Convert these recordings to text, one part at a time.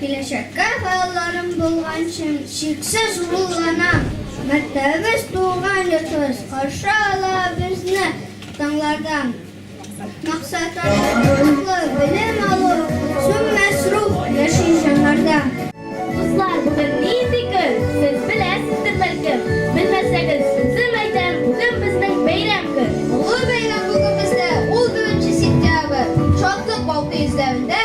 Киләчәккә хыялларым булганчы, чиксез рухланам. Мәктәбебез, туган йортыбыз каршы ала безне таңнардан. Максатларга кызыклы, белем алу, сүнмәс рух яши җаннарда. Дуслар, бүген нинди көн? Сез беләсездер, бәлкем. Белмәсәгез, үзем әйтәм, бүген безнең бәйрәм көн. Олы бәйрәм бүген бездә, ул беренче сентябрь. Шатлык балкый йөзләрендә.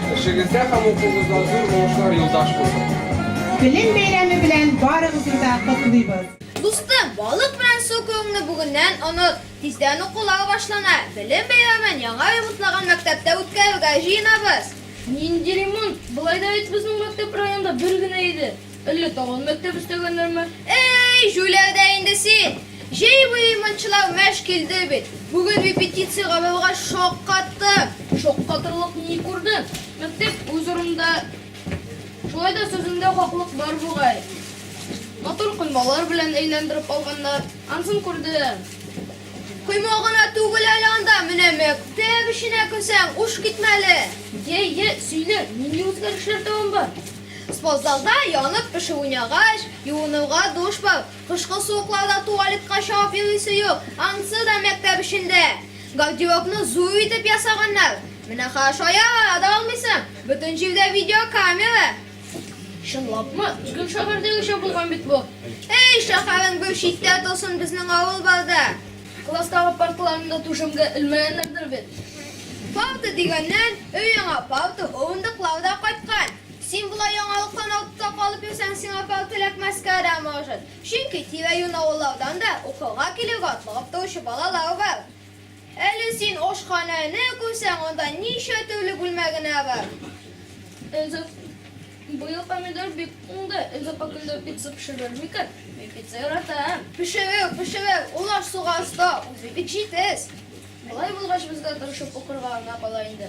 Эшегездә һәм укугызда зур уңышлар юлдаш булсын! Белем бәйрәме белән барыгызны да котлыйбыз! Дустым, балык белән су кебеңне бүгеннән оныт. Тиздән укулар башлана, Белем бәйрәмен яңа ремонтлаган мәктәптә үткәрергә җыенабыз. Нинди ремонт? Болай да бит безнең мәктәп районда бер генә иде. Әллә тагын мәктәп өстәгәннәрме? Эй, җүләр дә инде син! Җәй буе мончылар мәш килде бит. Бүген репетиция Гавилга шаккаттым. Шаккатырлык ни күрдең? Мәктәп үз урынында. Шулай да сүзендә хаклык бар бугай. Матур коймалар белән әйләндереп алганнар. Ансын күрдем. Койма гына түгел әле анда, менә мәктәп эченә керсәң, уш китмәле. Йә, йә, сөйлә, нинди үзгәрешләр дәвам бар? Спортзалда янып пешү уйнагач, юынуга душ бар. Кышкы суыкларда туалетка чабып йөрисе юк, ансы да мәктәп эчендә. Гардеробны зур итеп ясаганнар. Менә караш аягыңа да алмыйсың, бөтен җирдә видеокамера. Чынлапмы? Бүген шәһәрдәгечә булган бит бу. Әй, шәһәрең бер читтә торсын, безнең авыл бар да. Класстагы парталарында түшәмгә элмәгәннәрдер бит? Палта дигәннән, өй яңа палта, һуындыклар да кайткан. Син болай яңалыктан артта калып йөрсәң, сиңа палта эләкмәскә дә может. Чөнки тирә-юнь авыллардан да укырга килергә атлыгып торучы балалар бар. Әле син ашханәне күрсәң, анда ничә төрле бүлмә генә бар! Быел помидор бик уңды. Энҗе капында пицца пешерер микән? Мин пицца яратам. Пешерер, пешерер. Ул аш-суга оста, үзе бик җитез. Болай булгач, безгә тырышып укырга гына кала инде.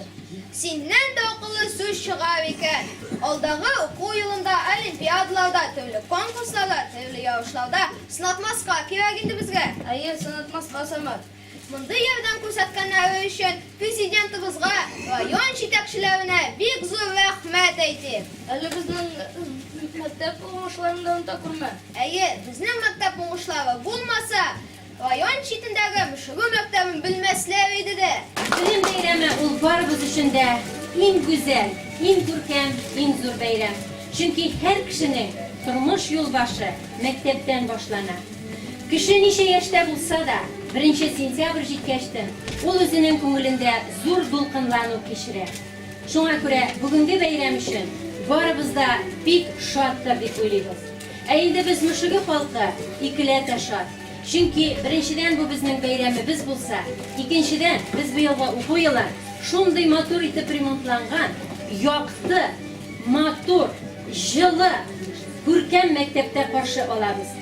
Синнән дә акыллы сүз чыгар икән. Алдагы уку елында олимпиадаларда, төрле конкурсларда, төрле ярышларда сынатмаска кирәк инде безгә. Әйе, сынатмаска, Самат. Мондый ярдәм күрсәткәннәре өчен Президентыбызга, район җитәкчеләренә бик зур рәхмәт әйтим. Әле безнең мәктәп уңышларын да оныта күрмә. Әйе, безнең мәктәп уңышлары булмаса, район читендәге Мөшерү мәктәбен белмәсләр иде дә. Белем бәйрәме ул барыбыз өчен дә иң гүзәл, иң күркәм, иң зур бәйрәм. Чөнки һәр кешенең тормыш юлбашы мәктәптән башлана. Кеше ничә яшьтә булса да, беренче сентябрь җиткәчтен ул үзенең күңелендә зур дулкынлану кичерә. Шуңа күрә бүгенге бәйрәм өчен барыбыз да бик шаттыр дип уйлыйбыз. Ә инде без Мөшеге халкы икеләтә шат. Чөнки, беренчедән, бу безнең бәйрәмебез булса, икенчедән, без быелгы уку елын шундый матур итеп ремонтланган, якты, матур, җылы, күркәм мәктәптә каршы алабыз.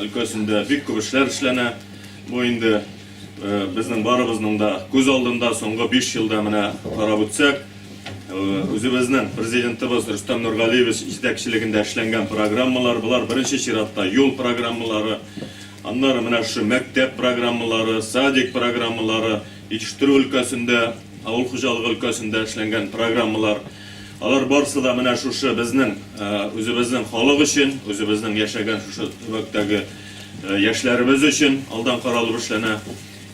өлкәсендә бик күп эшләр эшләнә. Бу инде безнең барыбызның да күз алдында соңгы 5 елда менә карап үтсәк, үзебезнең президентыбыз Рөстәм Нургалиевич җитәкчелегендә эшләнгән программалар, болар беренче чиратта юл программалары, аннары менә шушы мәктәп программалары, садик программалары, җитештерү өлкәсендә, авыл хуҗалыгы өлкәсендә эшләнгән программалар. Алар барысы да менә шушы безнең үзебезнең халык өчен, үзебезнең яшәгән шушы төбәктәге яшьләребез өчен алдан каралып эшләнә.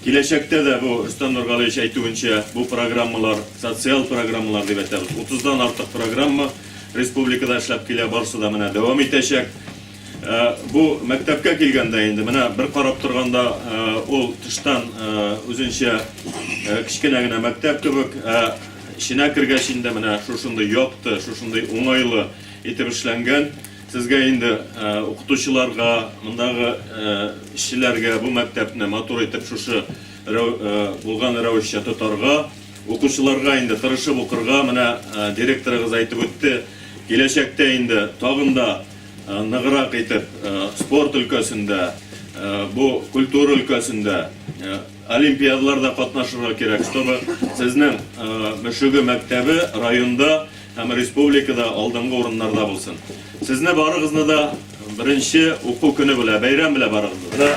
Киләчәктә дә бу Рөстәм Нургалиевич әйтүенчә, бу программалар, социаль программалар дип әйтәбез, 30 дан артык программа республикада эшләп килә, барысы да менә дәвам итәчәк. Э, бу мәктәпкә килгәндә инде менә бер карап торганда э, ул тыштан э, үзенчә кечкенә генә мәктәп кебек эченә кергәч инде менә шушындый якты шушындый уңайлы итеп эшләнгән сезгә инде укытучыларга мондагы эшчеләргә бу мәктәпне матур итеп шушы булган рәвешчә тотарга укучыларга инде тырышып укырга менә директорыгыз әйтеп үтте киләчәктә инде тагын да ныграк итеп спорт өлкәсендә, бу культура өлкәсендә олимпиадаларда катнашырга кирәк, чтобы сезнең Мөшеге мәктәбе районда һәм республикада алдынгы урыннарда булсын. Сезне барыгызны да беренче уку көне белән, бәйрәм белән барыгызны да.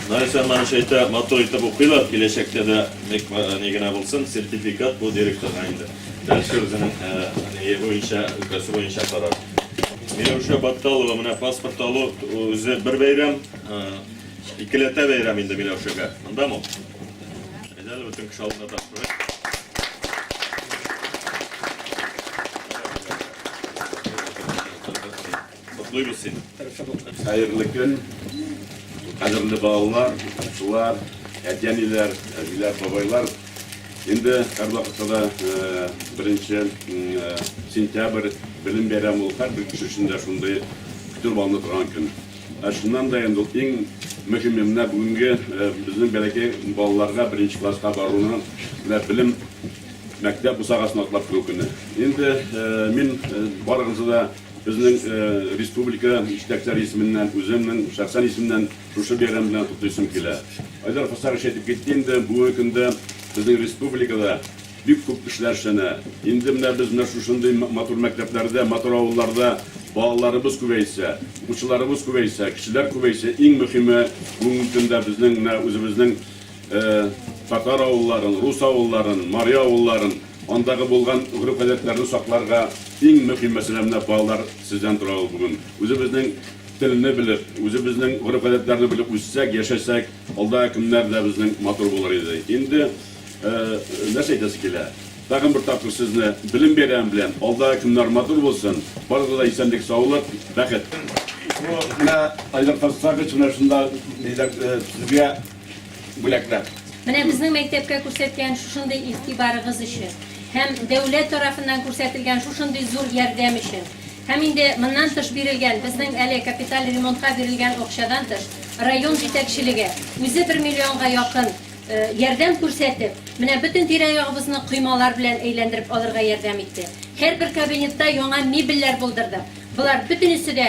Наил Сәлманович әйтә, матур итеп укыйлар, киләчәктә дә бик ни генә булсын, сертификат бу директорга инде. Дальше үзенең ни буенча, өлкәсе буенча карар. Миләүшә Батталова менә паспорт алу үзе бер бәйрәм, икеләтә бәйрәм инде Миләүшәгә. Мондамы ул? Әйдә әле бөтен кеше алдында тапшырыйк. Котлыйбыз сине. Хәерле көн. Кадерле балалар, укучылар, әти-әниләр, әбиләр, бабайлар. Инде һәрвакытта да беренче сентябрь белем бәйрәме ул һәрбер кеше өчен дә шундый көтеп алына торган көн. Ә шуннан да инде ул иң мөһиме менә бүгенге безнең бәләкәй балаларга беренче класска баруны менә белем мәктәп бусагасын атлап керү көне. Инде мин барыгызны да безнең республика җитәкчеләре исеменнән, үземнең шәхсән исемнән Шушы бәйрәм белән котлыйсым килә. Айдар Хосарович әйтеп китте инде, бүгенге көндә безнең республикада бик күп эшләр эшләнә. Инде менә без менә шушындый матур мәктәпләрдә, матур авылларда балаларыбыз күбәйсә, укучыларыбыз күбәйсә, кешеләр күбәйсә, иң мөхиме бүгенге көндә безнең менә үзебезнең татар авылларын, рус авылларын, мари авылларын, андагы булган гореф-гадәтләрне сакларга иң мөхим мәсьәлә менә балалар сездән тора ул бүген. Үзебезнең Телне белеп, үзебезнең гореф-гадәтләрне белеп үссәк, яшәсәк, алда көннәр дә безнең матур булыр иде. Инде нәрсә әйтәсе килә? Тагын бер тапкыр сезне Белем бәйрәме белән! Алда көннәр матур булсын! Барыгызга да исәнлек, саулык, бәхет! Бу менә Айдар Хасанович менә шунда, диләр, сезгә. бүләкләп. Менә безнең мәктәпкә күрсәткән шушындый игътибарыгыз өчен һәм дәүләт тарафыннан күрсәтелгән шушындый зур ярдәм өчен һәм инде моннан тыш бирелгән, безнең әле капиталь ремонтка бирелгән акчадан тыш, район җитәкчелеге үзе бер миллионга якын ярдәм күрсәтеп, менә бөтен тирә-ягыбызны коймалар белән әйләндереп алырга ярдәм итте. Һәрбер кабинетта яңа мебельләр булдырдык. Болар бөтенесе дә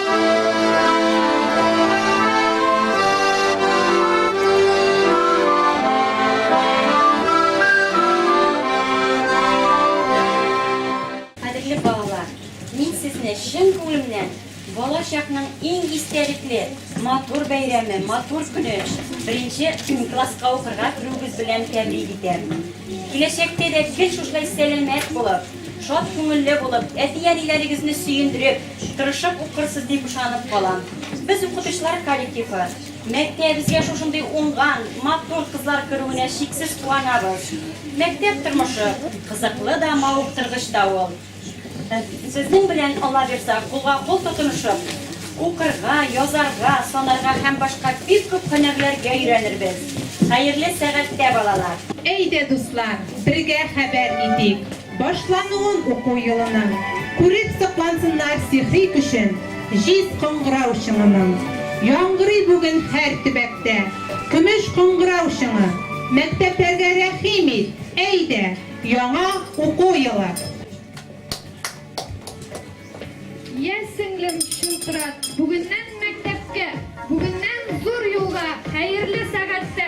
Кадерле балалар, мин сезне чын күңелемнән бала чакның иң истәлекле матур бәйрәме, матур көне беренче класска укырга керүегез белән тәбрик итәм. Киләчәктә дә гел шушылай сәламәт булып, шат күңелле булып, әти-әниләрегезне сөендереп, Тырышып укырсыз дип ышанып калам. Без укытучылар коллективы мәктәбебезгә шушындый уңган, матур кызлар керүенә чиксез куанабыз. Мәктәп тормышы кызыклы да, мавыктыргыч та ул. Сезнең белән, Алла бирса, кулга-кул тотынышып, укырга, язарга, санарга һәм башка бик күп һөнәрләргә өйрәнербез. Хәерле сәгатьтә, балалар! Әйдә, дуслар, бергә хәбәр итик! Башлануын уку елының. Күреп соклансыннар сихри көчен Җиз кыңгырау чыңының. Яңгырый бүген һәр төбәктә Көмеш кыңгырау чыңы. Мәктәпләргә рәхим ит, әйдә, Яңа уку елы. Йә, сеңлем, чылтырат, Бүгеннән мәктәпкә, Бүгеннән зур юлга, Хәерле сәгатьтә!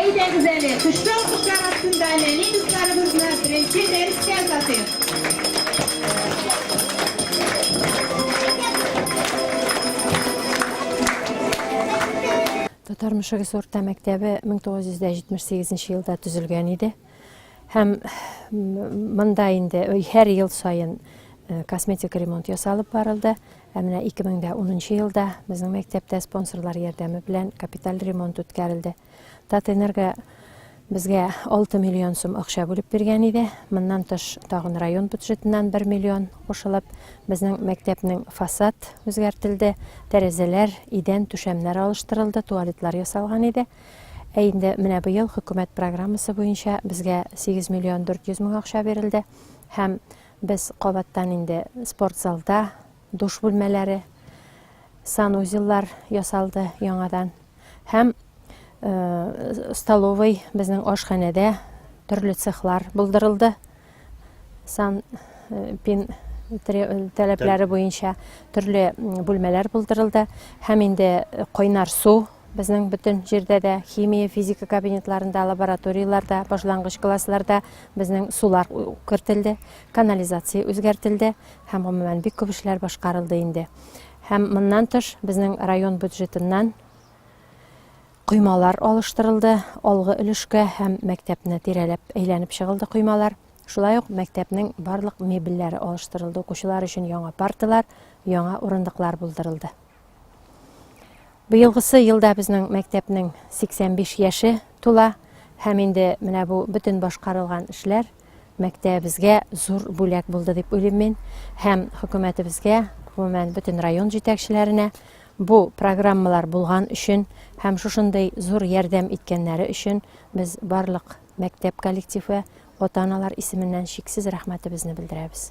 Әйдәгез әле, көчле алкышлар астында нәни дусларыбызны беренче дәрескә озатыйк. Татар мөшегес урта мәктәбе 1978 елда төзелгән иде. Һәм монда инде һәр ел саен косметик ремонт ясалып барылды. Ә менә 2010 нчы елда безнең мәктәптә спонсорлар ярдәме белән капиталь ремонт үткәрелде. Татэнерго безгә 6 миллион сум акча бүлеп биргән иде. Моннан тыш, тагын район бюджетыннан 1 миллион кушылып, безнең мәктәпнең фасад үзгәртелде, тәрәзәләр, идән, түшәмнәр алыштырылды, туалетлар ясалган иде. Ә инде менә быел хөкүмәт программасы буенча безгә 8 миллион 400 мең акча бирелде һәм Без кабаттан инде спортзалда, душ бүлмәләре, санузеллар ясалды яңадан һәм э, столовый безнең ашханәдә төрле цехлар булдырылды. Сан э, пин таләпләре буенча төрле бүлмәләр булдырылды һәм инде кайнар су Безнең бөтен җирдә дә, химия, физика кабинетларында, лабораторияләрдә, башлангыч классларда безнең сулар кертелде, канализация үзгәртелде һәм гомумән бик күп эшләр башкарылды инде. Һәм моннан тыш безнең район бюджетыннан коймалар алыштырылды, алгы өлешкә һәм мәктәпне тирәләп әйләнеп чыгылды коймалар. Шулай ук мәктәпнең барлык мебельләре алыштырылды, укучылар өчен яңа парталар, яңа урындыклар булдырылды. Быелгысы елда безнең мәктәпнең 85 яше тула һәм инде менә бу бөтен башкарылган эшләр мәктәбебезгә зур бүләк булды дип уйлыйм мин һәм хөкүмәтебезгә, гомумән бөтен район җитәкчеләренә бу программалар булган өчен һәм шушындый зур ярдәм иткәннәре өчен без барлык мәктәп коллективы, ата-аналар исеменнән чиксез рәхмәтебезне белдерәбез.